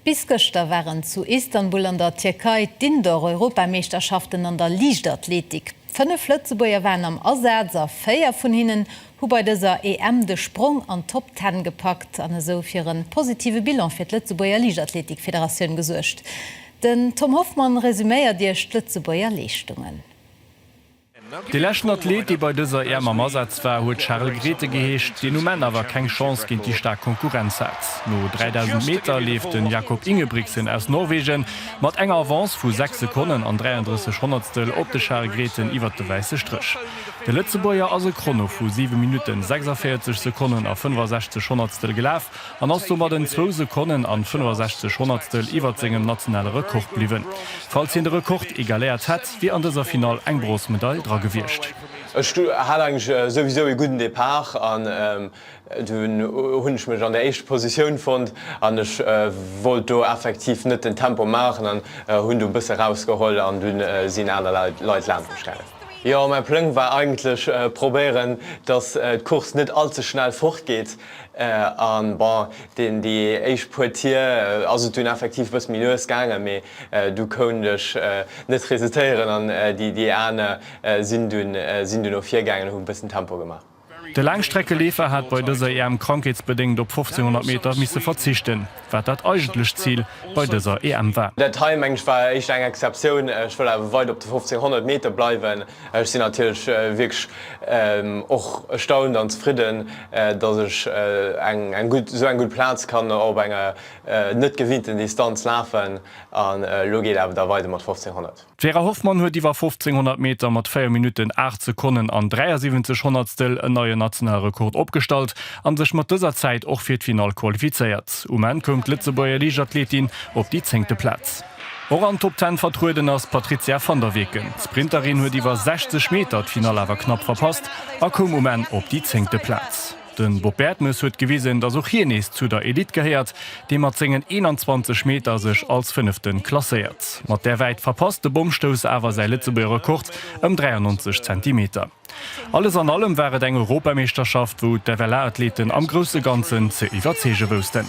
Bis gëschter waren zu Istanbul an der Tierkei d'Indoor-Europameeschterschaften an der Liichtathletik. Fënnef Lëtzebuerger waren am Asaz a véier vun hinnen hu bei dëser EM de Sprong an d'Top Ten gepackt an esou fir e positive Bilan fir d'Lëtzebuerger Liichtathletik-Federatioun gesuergt. Den Tom Hoffmann resuméiert Iech d'Lëtzebuerger Leeschtungen. Dee leschten Athlet, dee bei dëser EM am Asaz war, huet Charel Grethe geheescht, deen um Enn awer keng Chance géint déi staark Konkurrenz hat. No 3.000 Meter leeft den Jakob Ingebrigtsen aus Norwegen mat enger Avance vu 6 Sekonnen an 33 Honnertstel op de Charel Grethen iwwert de wäisse Stréch. De Lëtzebuerger ass e Chrono vu 7 Minutten, 46 Sekonnen a 65 Honnertstel gelaf an ass domat en zwou Sekonnen an 65 Honnertstel iwwert sengem nationale Rekord bliwwen, falls hien de Rekord egaléiert hätt. Wier an dëser Finall eng Bronzmedail dra gewiescht? Ech hat eigentlech souwisou ee gudden Depart an dunn hunn ech mech an der éischter Positioun fonnt an ech wollt do effektiv net den Tempo maachen an hunn do e bësse rausgeholl an dunn sinn aner Leit laansch mech gaangen. Jo, mäi Pläng war eigentlech probéieren, dass d'Course net all ze schnell fortgeet an bon, déi éischt puer Tier ass et dunn effektiv e bësse méi lues gaangen, mee Du koun dech net resitéieren an déi aner sinn dunn o virgaangen an hu bëssen Tempo gemaach. De Laangstreckeleefer hat bei dëser EM krankheetsbedéngt op 1500 Meter misse verzichten, wat dat eigentlech Zil bei dëser EM war. Dat hei mengen ech war éischter eng Exceptioun. Ech wëll awer weider op de 1500 Meter bleiwen. Ech sinn natierlech wierklech och erstaunt an zefridden, datt ech esou eng gutt Plaz kann op enger net gewinnt den Distanz lafen an elo geet awer da weider mat 1500. D'Vera Hoffmann huet iwwer 1500 Meter mat 4 Minutten 8 Sekonnen an 73 Honnertstel en neie nationale Rekord opgestallt an sech mat dëser Zäit och fir d'Finall qualifizéiert. Um Enn koum d'Lëtzebuerger Liichtathletin op déi zéngte Plaz. Och an Top Ten vertrueden ass d'Patrizia van der Weken. D'Sprinterin huet iwwer 60 Meter d'Finall awer knapp verpasst a koum um Enn op déi zéngte Plaz. De Bob Bertemes huet gewisen, datt och hien nees zu der Elite gehéiert, dee mat sengen 21 Meter sech als Fënnefte klasséiert. Mat där Wäit verpasst de Bommstouss awer säi Lëtzebuerger Rekord ëm 93 Zentimeter. Alles an allem war et eng Europameeschterschaft, wou d'FLA-Athleten am grousse Ganzen ze iwwerzeege woussten.